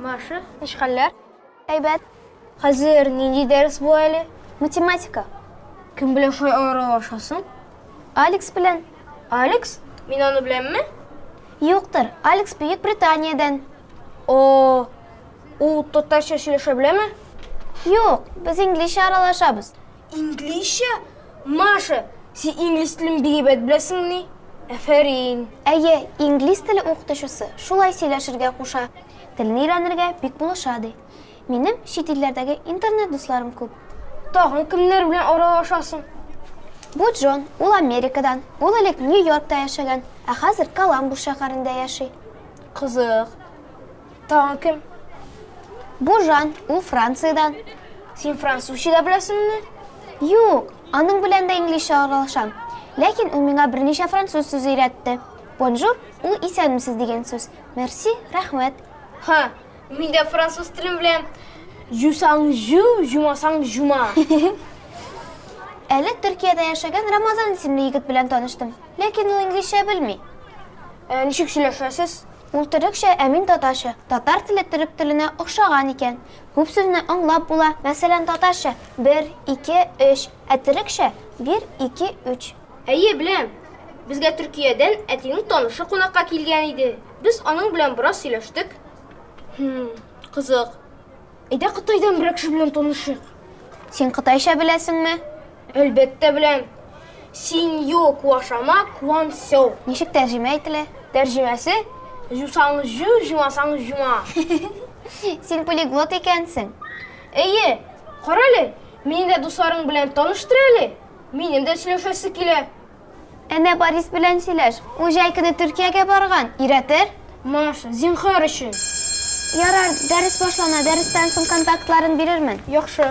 Маша. Ничек хәлләр? Әйбәт. Хәзер нинди дәрес бу әле? Математика. Кем белән шулай аралашасың? Алекс белән. Алекс? Мин аны беләмме? Юктыр. Алекс Бөек Британиядән. О, Ул татарча сөйләшә беләме? Юк, без инглизчә аралашабыз. Инглизчә? Маша, син инглиз телен бик әйбәт беләсеңмени? Әфәрин! Әйе, инглиз теле укытучысы шулай сөйләшергә куша, телне өйрәнергә бик булыша, ди. Минем чит илләрдәге интернет дусларым күп. Тагын кемнәр белән аралашасың? Бу Джон, ул Америкадан, ул элек Нью-Йоркта яшәгән, ә хәзер Коламбус шәһәрендә яши. Кызык. Тагын кем? Бу Жан, ул Франциядән. Син французча да беләсеңме? Юк, аның белән дә инглизчә аралашам. Ләкин ул миңа берничә француз сүзе өйрәтте. Бонжур, ул исәнмесез дигән сүз. Мерси, рәхмәт. Ха, мин дә француз телен беләм. Жусаң жу, жумасаң жума. Әле Төркиядә яшәгән Рамазан исемле егет белән таныштым. Ләкин ул инглизчә белми. Ә ничек сөйләшәсез? Ул төрекчә, ә мин татарча. Татар теле төрек теленә охшаган икән. Күп сүзне аңлап була, мәсәлән, татарча, бер, ике, өч, ә төрекчә, бир, ике, үч. Әйе, беләм. Безгә Төркиядән әтинең танышы кунакка килгән иде. Без аның белән бераз сөйләштек. Хм, кызык. Әйдә Кытайдан берәр кеше белән танышыйк. Син кытайча беләсеңме? Әлбәттә беләм. Синьо куашама куан сяо. Ничек тәрҗемә ителә? Тәрҗемәсе, җусаң җу, җумасаң җума. Син полиглот икәнсең. Әйе. Карале, мине дә дусларың белән таныштыр әле. Минем дә сөйләшәсе килә. Әнә Борис белән сөйләш. Ул җәй көне Төркиягә барган. Өйрәтер. Маша, зинһар өчен. Ярар, дәрес башлана, дәрестән соң контактларын бирермен. Яхшы.